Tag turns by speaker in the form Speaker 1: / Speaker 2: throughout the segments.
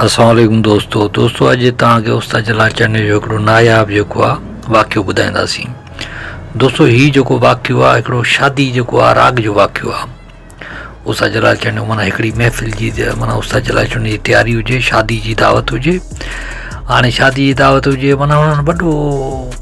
Speaker 1: السلام عليڪم دوستو دوستو اڄ توهان کي استاد جلال چني جو هڪڙو ناياب جيڪو آ واقعو ٻڌائينداسين دوستو هي جيڪو واقعو آ هڪڙو شادي جيڪو آ راڳ جو واقعو آ استاد جلال چني معنی هڪڙي محفل جي معنی استاد جلال چني جي تياري هجي شادي جي دعوت هجي هاڻي شادي جي دعوت هجي معنی هن وڏو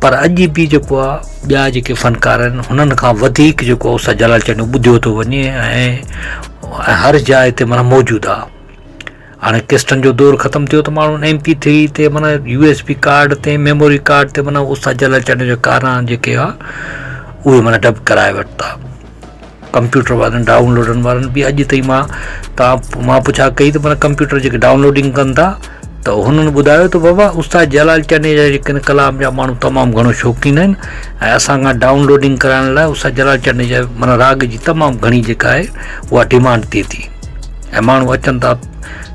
Speaker 1: پر اڄ به جيڪو آ ٻيا جيڪي فنڪار آهن هنن کان وڌيڪ جيڪو آ استاد جلال چانڊيو ٻڌيو ٿو وڃي ۽ هر جاء تي مانا موجود آ هاڻي ڪسٽن جو دور ختم ٿيو ته ماڻهو ايم پي ٿري تي مانا يو ايس بي ڪارڊ تي ميموري ڪارڊ تي مانا استاد جلال چانڊيو جا ڪارا جيڪي آ اهي مانا ڊب ڪرائي ورتا ڪمپيوٽر وارن ڊائون لوڊن وارن به اڄ تائين مان تان مان پڇا ڪئي ته مانا ڪمپيوٽر جيڪي ڊائون لوڊنگ ڪن ٿا ته هنن ٻڌايو ته بابا استاد جلال چني جا جيڪي ڪلام جا ماڻهو تمام گهڻو شوقين آهن ۽ اسان کان ڊائون لوڊنگ ڪرائڻ لاء استاد جلال چني جا مانا راڳ جي تمام گهڻي جيڪا آهي اها ڊيمانڊ ٿئي ٿي ۽ ماڻهو اچن ٿا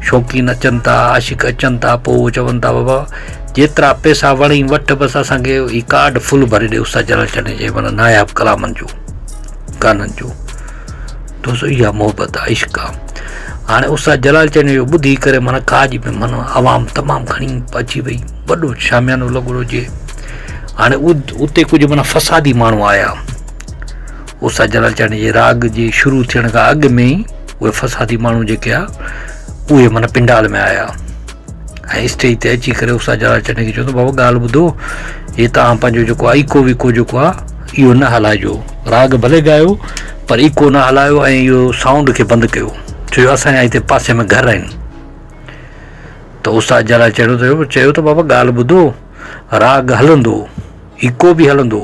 Speaker 1: شوقين اچن ٿا عاشق اچن ٿا پوء اهو چون ٿا بابا جيترا پيسا وڻي وٺ بس اسانکي هي ڪارڊ فل ڀري ڏي استاد جلال چني جي مانا ناياب ڪلامن جو ڪانھن جو دوستو اها محبت آ عشق آ هاڻي استاد جلال چيان جو ٻڌي ڪري معنيٰ ڪا جي به معنيٰ عوام تمام گهڻي اچي وئي وڏو شاميانو لڳو هجي هاڻي اتي ڪجهه معنيٰ فسادي ماڻهو آيا استاد جلال چيان جي راڳ جي شروع ٿيڻ کان اڳ ۾ ئي اهي فسادي ماڻهو جيڪي آ اهي معنيٰ پنڊال ۾ آيا ۽ اسٽيج تي اچي ڪري استاد جلال چني کي چيو ته بابا ڳالهه ٻڌو هي تان پنهنجو جيڪو ايڪو ويڪو جيڪو آهي اهو نه هلائجو راڳ ڀلي ڳايو پر ايڪو نه هلايو ۽ اهو سائونڊ کي بند ڪيو ڇو جو اسان جا هتي پاسي ۾ گهر آهن ته استاد جلال چيو ته چيو ته بابا ڳالهه ٻڌو راڳ هلندو ايڪو به هلندو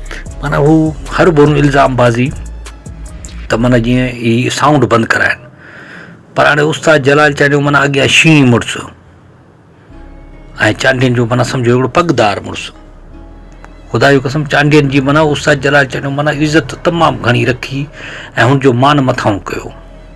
Speaker 1: معنيٰ هو هر بنهه الزام بازي ته معنيٰ جيئن هي سائونڊ بند ڪرائين پر هاڻي استاد جلال چانڊيو معنيٰ اڳيان شينهن مڙس ۽ چانڊين جو معنيٰ سمجهو هڪڙو پڳدار مڙس خدا جو قسم چانڊين جي معنيٰ استاد جلال چانڊيو معنيٰ عزت تمام گهڻي رکي ۽ هن جو مان مٿاهون ڪيو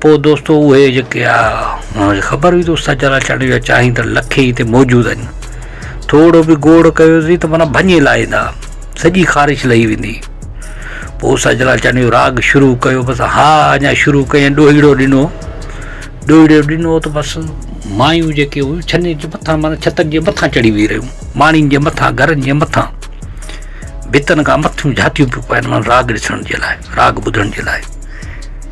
Speaker 1: پوء دوستو اهي جيڪي آ هن کي خبر هئي ته استاد جلال چانڊيو جا چاهين ته لکي هتي موجود آهن ٿورو به گوڙ ڪيوسي ته مانا ڀڃي لائيندا سڄي خارش لهي ويندي پوء استاد جلال چانڊيو راڳ شروع ڪيو بس ها اڃا شروع ڪيائين ڏوهيڙو ڏنو ڏوهيڙو ڏنو ته بس مايون جيڪي هيون ڇني جي مٿان مانا ڇتن جي مٿان چڙهي ويهي رهيون ماڻين جي مٿان گهرن جي مٿان ڀتن کان مٿيون جھاتيون پيون پائن مانا راڳ ڏسڻ جي لاء راڳ ٻڌڻ جي لاء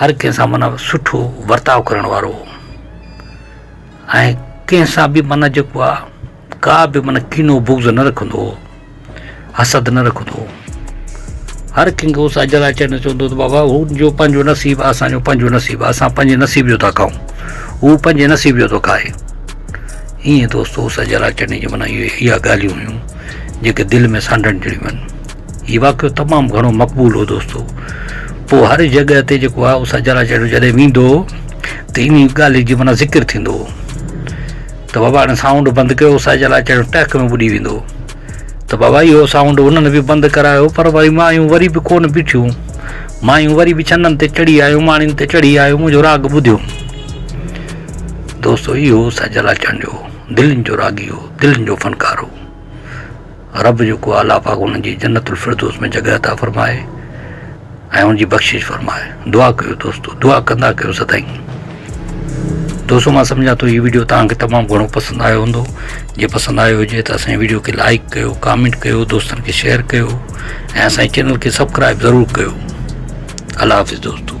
Speaker 1: هر ڪنهن سان معنيٰ سٺو ورتاء ڪرڻ وارو هو ۽ ڪنهن سان به معنيٰ جيڪو آ ڪا به معنيٰ ڪينو بغض نه رکندو هو حسد نه رکندو هو هر ڪنهن کي اوس اجل اچي نه چوندو ته بابا هو جو پنهنجو نصيب آ اسان جو پنهنجو نصيب آ اسان پنهنجي نصيب جو ٿا کائون هو پنهنجي نصيب جو ٿو کائي ائين دوستو اوس اجل اچڻ جي معنيٰ اها ڳالهيون هيون جيڪي دل ۾ سانڍڻ جهڙيون آهن هي واقعو تمام گهڻو مقبول هو دوستو پوء هر جڳهه تي جيڪو آهي اسا جرا جهڙو جڏهن ويندو هو ته انهي ڳالهي جي معنيٰ ذڪر ٿيندو هو ته بابا هاڻي سائونڊ بند ڪيو اسا جرا جهڙو ٽهڪ ۾ ٻڏي ويندو هو ته بابا اهو سائونڊ انهن به بند ڪرايو پر وري مايون وري به ڪون بيٺيون مايون وري به ڇنن تي چڙهي آيون ماڻين تي چڙهي آيون منهنجو راڳ ٻڌيو دوستو اهو سجل اچڻ جو دلين جو راڳي هو دلين جو فنڪار هو رب جو ڪو اعليٰ پاڪ انهن جي جنت الفردوس ۾ جڳهه عطا فرمائي ۽ ان جي بخشش فرمائي دعا ڪيو دوستو دعا ڪندا ڪيو سدائين دوستو مان سمجھان ٿو هي ويڊيو توهان کي تمام گھڻو پسند آيو هوندو جي پسند آيو هجي ته اسان ويڊيو کي لائڪ ڪيو ڪامينٽ ڪيو دوستن کي شيئر ڪيو ۽ اسان چينل کي سبسڪرائب ضرور ڪيو الله حافظ دوستو